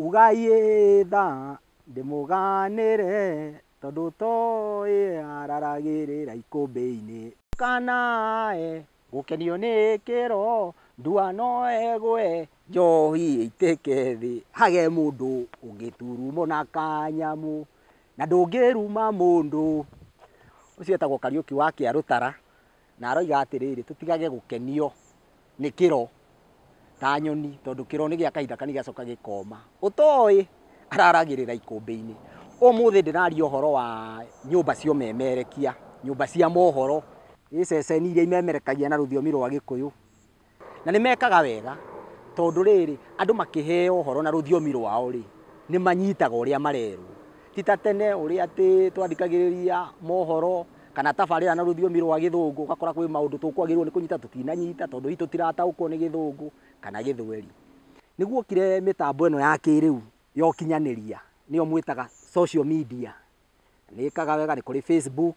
Ugai ĩĩ tha ndĩmũganĩre tondũ toĩ araragĩrĩra ikũmbĩ-inĩ. Ndũkanae gũkenio nĩ kĩro ndua no ĩgwe njohi ĩitĩke thĩ hage mũndũ ũngĩturumo na kanyamũ na ndũngĩruma mũndũ. Ũcio etagwo Kariũki wa Kĩarũtara Na aroiga atĩrĩrĩ, tũtigage gũkenio nĩ kĩro ta nyoni, tondũ kĩro nĩ gĩa kahinda kanini gĩgacoka gĩkoma. Ũtoĩ araragĩrĩra ikũmbĩ-inĩ. Ũmũthĩ ndĩraria ũhoro wa nyũmba cia ũmemerekia, nyũmba cia mohoro, ĩ ceceni iria imemerekagia na rũthiomi rwa Gĩkũyũ. Na nĩ mekaga wega, tondũ rĩrĩ, andũ makĩheo ũhoro na rũthiomi rwao-rĩ, nĩ manyitaga ũrĩa marerwo. Ti ta tene ũrĩa atĩ twathikagĩrĩria mohoro kana tabarĩra na rũthiomi rwa Gĩthũngũ, ũgakora kwĩ maũndũ tũkwagĩrĩirwo nĩ kũnyita tũtinanyita, tondũ hihi tũtirataũkwo nĩ Gĩthũngũ kana Gĩthweri. Nĩ guokire mĩtambo ĩno ya kĩrĩu ya ũkinyanĩria, nĩyo mwĩtaga social media. Nĩ ĩkaga wega, nĩ kũrĩ Facebook.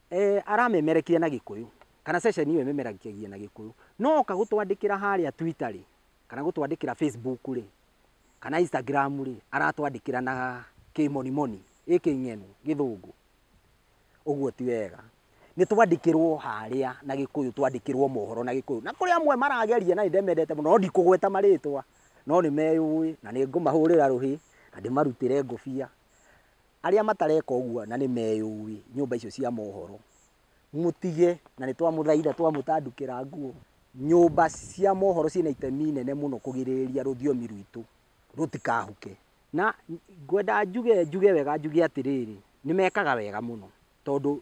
Eeh aramemerekire na gĩkũyũ kana session ĩyo ĩmemerekagia na gĩkũyũ no oka gũtwandĩkĩra harĩa Twitter rĩ kana gũtwandĩkĩra Facebook rĩ kana Instagram rĩ aratwandĩkĩra na kĩmonimoni ĩ kĩng'enu gĩthũngũ ũguo ti wega nĩ twandĩkĩrwo harĩa na gĩkũyũ twandĩkĩrwo mohoro na gĩkũyũ na kũrĩ amwe marageria na nĩ ndĩmendete mũno no ndikũgweta marĩtwa no nĩ meyũĩ na nĩ ngũmahũrĩra rũhĩ na ndĩmarutĩre ngũbia. Arĩa matareka ũguo na nĩ meyũĩ, nyũmba icio cia mohoro, mũtige na nĩ twamũthaitha, twamũtandũkĩra nguo. Nyũmba cia mohoro ciĩna itemi inene mũno kũgirĩrĩria rũthiomi rwitũ rũtikahuke. Na ngwenda njuge, njuge wega njuge atĩrĩrĩ, nĩ mekaga wega mũno tondũ...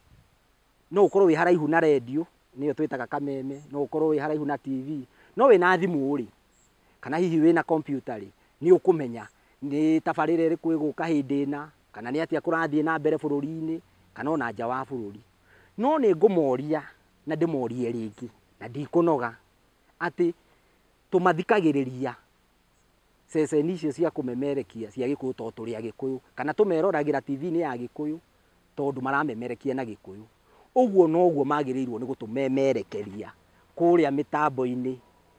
No ũkorwo wĩ haraihu na rendio, nĩyo twĩtaga kameme, no ũkorwo wĩ haraihu na TV, no wĩna thimũ rĩ, kana hihi wĩna kompiuta rĩ, nĩ ũkũmenya nĩ tabarĩra ĩrĩkũ ĩgũka hĩndĩ ĩna, kana nĩ atĩa kũrathiĩ na mbere bũrũri-inĩ, kana ona nja wa bũrũri. No nĩ ngũmoria na ndĩmorie rĩngĩ, na ndikũnoga, atĩ tũmathikagĩrĩria. ceceni icio cia kũmemerekia cia Gĩkũyũ tondũ tũrĩ Agĩkũyũ, kana tũmeroragĩra TV-inĩ ya Gĩkũyũ tondũ maramemerekia na Gĩkũyũ. Ũguo noguo magĩrĩirwo nĩ gũtũmemerekeria kũrĩa mĩtambo-inĩ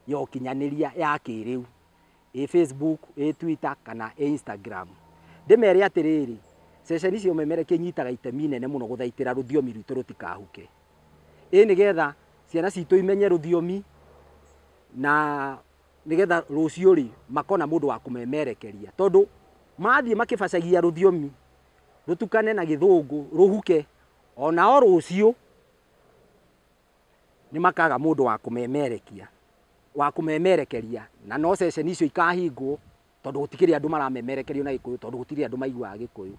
ya ũkinyanĩria ya kĩrĩu, ĩ Facebook, ĩ Twitter kana ĩ Instagram. Ndĩmere atĩrĩrĩ, ceceni cia ũmemerekia inyitaga itemi inene mũno gũthaitĩra rũthiomi rwitũ rũtikahuke. Ĩ nĩgetha ciana citũ imenye rũthiomi na... nĩgetha rũciũ rĩ makona mũndũ wa kũmemerekeria tondũ mathiĩ makĩbacagia rũthiomi rũtukane na gĩthũngũ rũhuke onao rũciũ nĩ makaga mũndũ wa kũmemerekia wa kũmemerekeria na no ceceni icio ikahingwo tondũ gũtikĩrĩ andũ maramemerekerio na gĩkũyũ tondũ gũtirĩ andũ maiguaga gĩkũyũ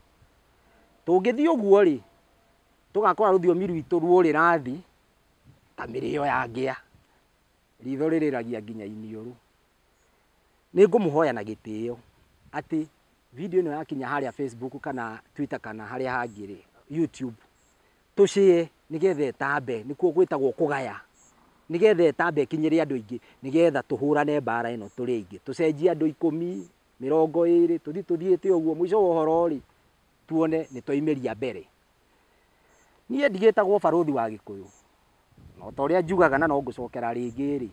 tũngĩthiĩ ũguo rĩ tũgakora rũthiomi rwitũ rũrĩra thĩ ta mĩrĩo ya ngĩa riitho rĩrĩragia nginya iniũrũ. Nĩ ngũmũhoya na gĩtĩo atĩ video ĩno yakinya harĩa Facebook kana Twitter kana harĩa hangĩ rĩ, YouTube, tũ share nĩ getha ĩtambe, nĩkuo gwĩtagwo kũgaya, nĩ getha ĩtambe ĩkinyĩre andũ aingĩ, nĩ getha tũhũrane mbaara ĩno tũrĩ aingĩ. Tũcenjie andũ ikũmi, mĩrongo ĩrĩ, tũthi tũthiĩte ũguo, mũico wa ũhoro rĩ, tuone nĩ twaimĩria mbere. Niĩ ndigĩtagwo barũthi wa Gĩkũyũ, na o ta ũrĩa njugaga na no ngũcokera rĩngĩ rĩ,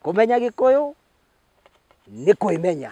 kũmenya Gĩkũyũ nĩ kwĩmenya.